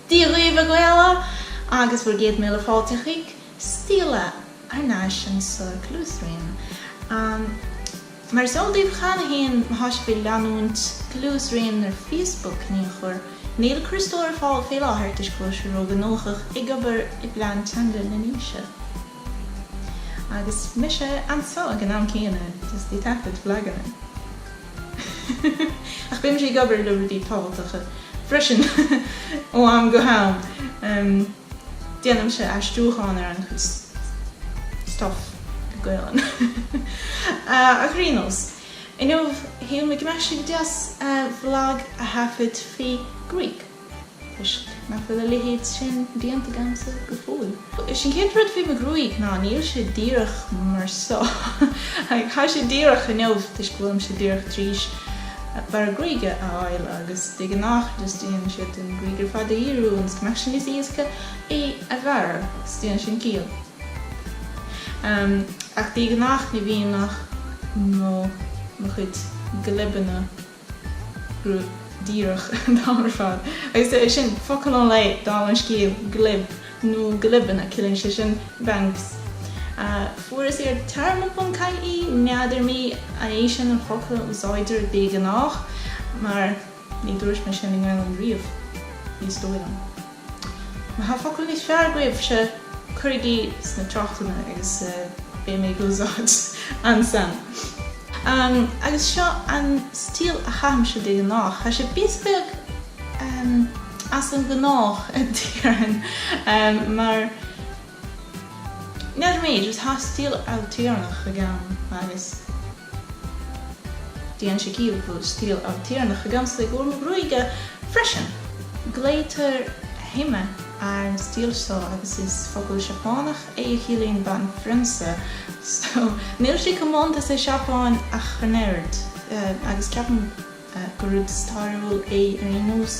Dia dhaoibh a Ghaela agus bhur gcéad míle fáilte chuig Stíle thar n-ais in sa Gluaisroinn. Mar is eol daoibh cheana féin má tá sibh ag leanúint Gluaisroinn ar Facebook in aon chor, níl Críostóir ar fáil fé láthair toisc go bhfuil sé róghnóthach ag obair i bplean teanga na nDéise. Agus mise anso ag an am céanna just ag taifead vlaganna Ach bímse ag obair le rudaí tábhachtacha freisin ó am go ham. Déanaimse aistriúchán ar an-chuid stuff go Gaelainn Ar aon nós, inniu shíl mé go mbeadh sé go deas vlag a thaifead faoi ghruaig. Toisc nach bhfuil a leithéid sin déanta agamsa go fóill. Is é an chéad rud fé mo ghruaig ná níl sé díreach mar seo. Tá sé díreach inniu toisc go bhfuilimse díreach tar éis bearradh gruaige a fháil agus de ghnách just déanann siad an ghruaig ar fad a dhíriú ionas go mbeadh sé níos éasca é a bhearradh, is déanann sin ciall. Ach de ghnách ní bhíonn ach mo chuid glibeanna. díreach an t-am ar fad. Agus é sin, focal an lae, dála an scéil, glib, nó glibeanna, ciallaíonn sé sin, bangs. Fuaireas ar Téarma.ie, n'fheadar mé an é sin an focal a úsáidtear de ghnáth, mar ní dúirt mé sin i nGaelainn riamh, ní dóigh liom. Má tá focal níos fearr agaibhse, cuirigí sna tráchtanna agus beidh mé ag úsáid ansan. Agus seo an stíl a chaithimse de ghnách. Tá sé píosa beag as an gnách a déarfainn mar n'fheadar mé, just tá stíl ailtéarnach agam agus. Déanann sé ciall go bhfuil stíl ailtéarnach agamsa i gcomhair mo ghruaige freisin. Glaoitear Hime ar an stíl seo agus is focal Seapánach é a chiallaíonn banphrionsa, so níl sé comónta sa Seapáin ach an oiread agus ceapaim. gur rud stairiúil é ar aon nós,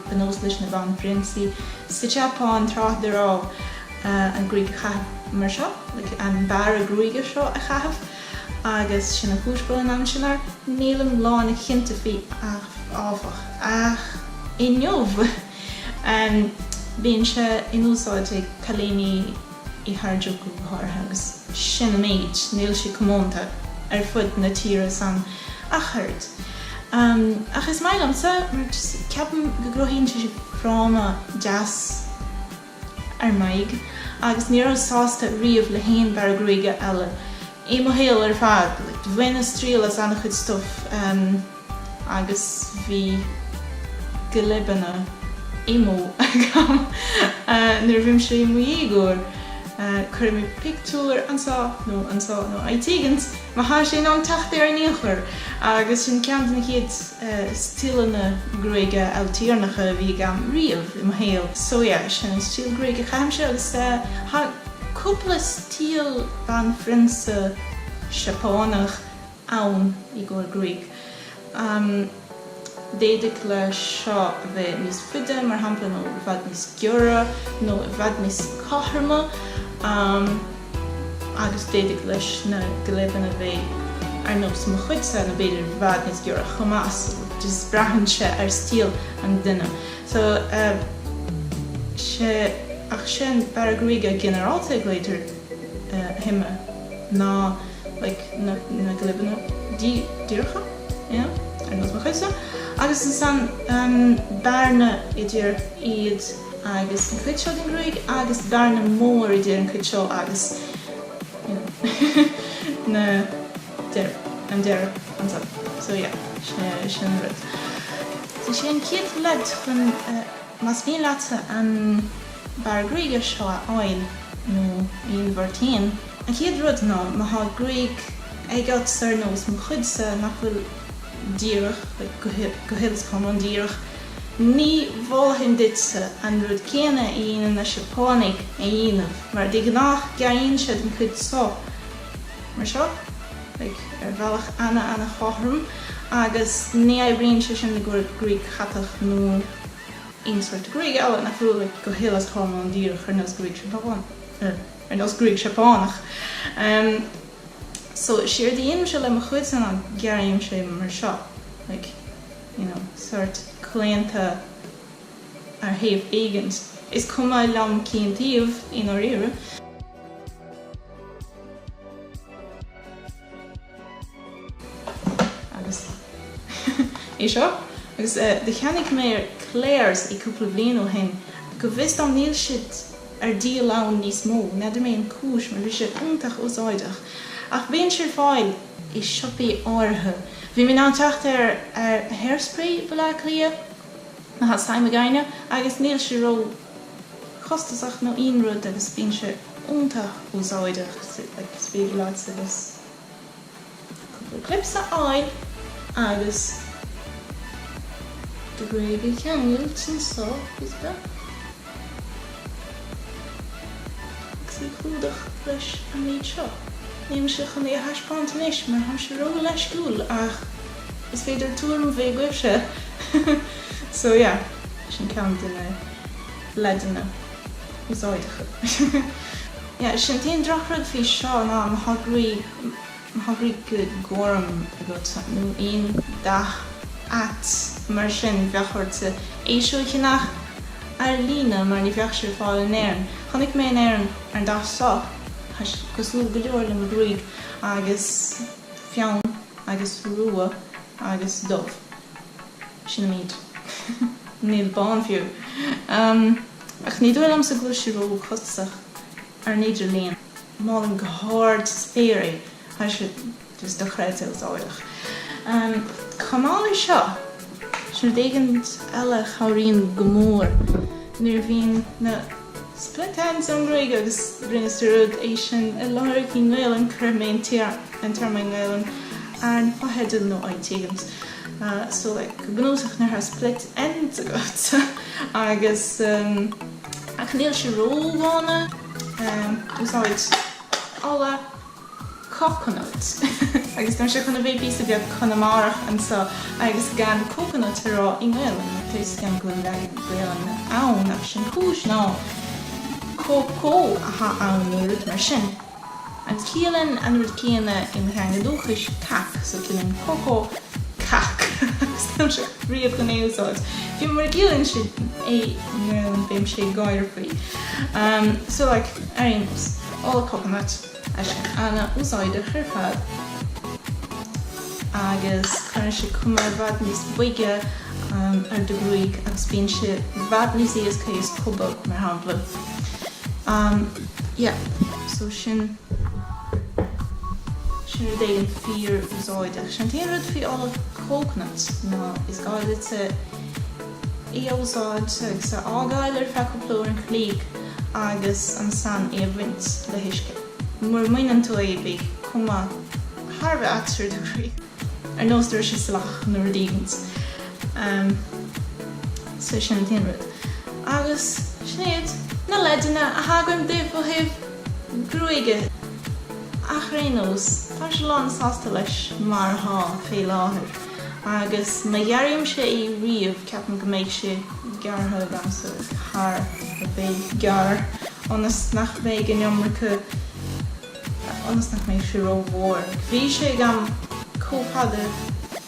ba nós leis na banphrionsaí sa tSeapáin tráth dá raibh an gruaig a chaitheamh mar seo, an bearradh gruaige seo a chaitheamh agus sin an chúis go bhfuil an ainm sin air. Nílim lánchinnte faoi áfach, ach inniu bíonn sé in úsáid ag cailíní. i Harajuku go háirithe, agus sin an méid, níl sé comónta ar fud na tíre san ach oiread. Ach is maith liomsa mar ceapaim go gcruthaíonn sé fráma deas ar m'aghaidh agus ní rabhas sásta riamh le haon bhearradh gruaige eile i mo shaol ar fad. Bhaineas triail as an-chuid stuif. agus bhí glibeanna emo agam nuair a bhí mise i mo dhéagóir. Cuirfidh mé pictiúr anso nó anso nó áit éigint má thá sé in ann teacht air in aon chor agus sin ceann de na chéad stíleanna gruaige ailtéarnacha a bhí agam riamh i mo shaol. So yeah, sin an stíl gruaige a chaithimse agus thá cúpla stíl banphrionsa Seapánach. ann i gcóir gruaig. D'fhéadfadh leis seo a bheith níos faide, mar shampla, nó i bhfad níos giorra, nó i bhfad níos cothroma, agus d'fhéadfadh leis na glibeanna bheith ar nós mo chuidse, nó b'fhéidir i bhfad níos giorra chomh maith, so just braitheann sé ar stíl an duine. So, yeah, ach sin, bearradh gruaige ginearálta, a glaodhtar, hime, ná. like, na, na glibeanna dí, díreacha, you know, ar nós mo chuidse, agus ansan um, bearna idir iad agus an chuid seo den ghruaig agus bearna mór idir an chuid seo agus you know, na deir, an deireadh ansan. So yeah, sin sin rud. So sin céad leid chun uh, más mhian leatsa an um, bearradh gruaige seo a fháil nó a inmharthain. An chéad rud ná má thá gruaig agat ar nós mo chuidse nach bhfuil díreach, go huile 's go hiomlán díreach, ní mholfainn duitse an rud céanna a dhéanann na Seapánaigh a dhéanamh mar de ghnáth gearraíonn siad an cuid so mar seo, like, ar bhealach ana-ana-chothrom agus ní oibríonn sé sin i gcóir gruaig chatach nó. Aon sórt gruaige eile nach bhfuil go huile is go hiomlán díreach ar nós gruaig Seapánach. So is éard a dhéanaimse le mo chuidse ná gearraímse é mar seo, like, you know, sórt claonta ar thaobh éigint. Is cuma liom cén taobh i ndáiríre. Agus é seo. Agus do cheannaigh mé ar Claire's é cúpla bhliain ó shin. Go bhfios dom níl siad ar díol ann níos mó. N'fheadar mé an cúis mar bhí sé iontach úsáideach. Ach bíonn sé ar fáil i siopaí áirithe. Bhí mé in ann teacht air Hairspray i mBaile Átha Cliath nó Has Time againne agus níl sé ró chostasach nó aon rud agus bíonn sé iontach úsáideach. Like it's really lots of us. Cúpla clips a fháil agus do ghruaig a cheangailt anso is beag agus í a chlúdach leis an méid seo. Nílimse chun é a thaispeáint anois mar táimse ró leisciúil ach is féidir tuairim a bheith agaibhse so yeah, sin ceann de na leideanna. Yeah, sin an t-aon drochrud faoi seo ná má tá gruaig ghorm agat nó aon dath ait mar sin bheadh ort é seo a cheannach ar líne mar ní bheadh sé ar fáil in Éirinn. Chonaic mé in Éirinn an dath seo, tá sé cosúil go leor le mo gruaig agus fionn agus rua agus dubh. Sin an méid. Níl bán fiú. Ach ní dóigh liomsa go bhfuil sí róchostasach ar an idirlíon. Molaim go hard na spéire é. Tá sé just dochreidte úsáideach. Chomh maith leis seo, sin rud éigint eile a chabhraíonn go mór nuair a bhíonn na split ends ar an ngruaig agus rinneas dearúd é sin a lorg i nGaelainn, cuirfidh mé an téarma i nGaelainn ar na fotheidil nó áit éigint. so like go bunúsach nuair atá split ends agat agus ach níl sé ródhona úsáid ola coconut agus táimse chun a bheith píosa beag Conamarach anso agus gan coconut a rá i nGaelainn mar tá fhios agam go bhfuil leagan Gaelainne ann ach sin an chúis ná cócó atá ann nó rud mar sin. Agus ciallaíonn an rud céanna i mo theanga dhúchais cac so ciallaíonn cócó cac agus táimse riamh chun é a úsáid. Bhí mé mar ciallaíonn sé é nó beidh mise ag gáire faoi. So like ar aon nós. Ola coconut ana úsáideach ar fad agus cuireann sé cuma i bhfad níos boige ar do ghruaig agus bíonn sé i bhfad níos éasca í a scuabadh mar shampla. Umm, yeah, so sin, sin rud éigint fíor úsáideach. Sin an t-aon rud faoi ola coconut ná is gá duit é a úsáid agus a fhágáil ar feadh cúpla uair an chloig agus ansan é a bhaint le huisce. Mura mbaineann tú é beidh cuma thar a bheith ait ar do ghruaig. Ar nós go raibh sé salach nó rud éigint. So sin an t-aon rud. Agus sin iad na leideanna atá agam daoibh ó thaobh gruaige ach ar aon nós táimse lán sásta leis mar atá fé láthair agus má ghearraimse í riamh ceapaim go mbeidh sé gearrtha agamsa thar a bheith gearr ionas nach mbeidh an iomarca ionas nach mbeidh sé ró-mhór. Bhí sé agam chomh fada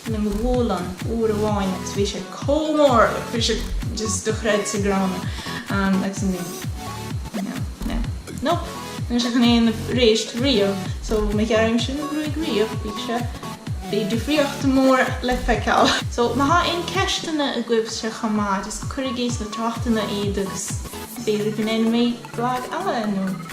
le mo ghualainn uair amháin agus bhí sé chomh mór agus bhí sé just dochreidte gránna agus ní no no nope níl sé chun a bheith arís riamh so má ghearraimse mo ghruaig riamh bhí sé bhí difríocht mór le feiceáil. So má thá aon ceisteanna agaibhse chomh maith just cuirigí sna tráchtanna iad agus b'fhéidir go ndéanfaidh mé vlag eile nó.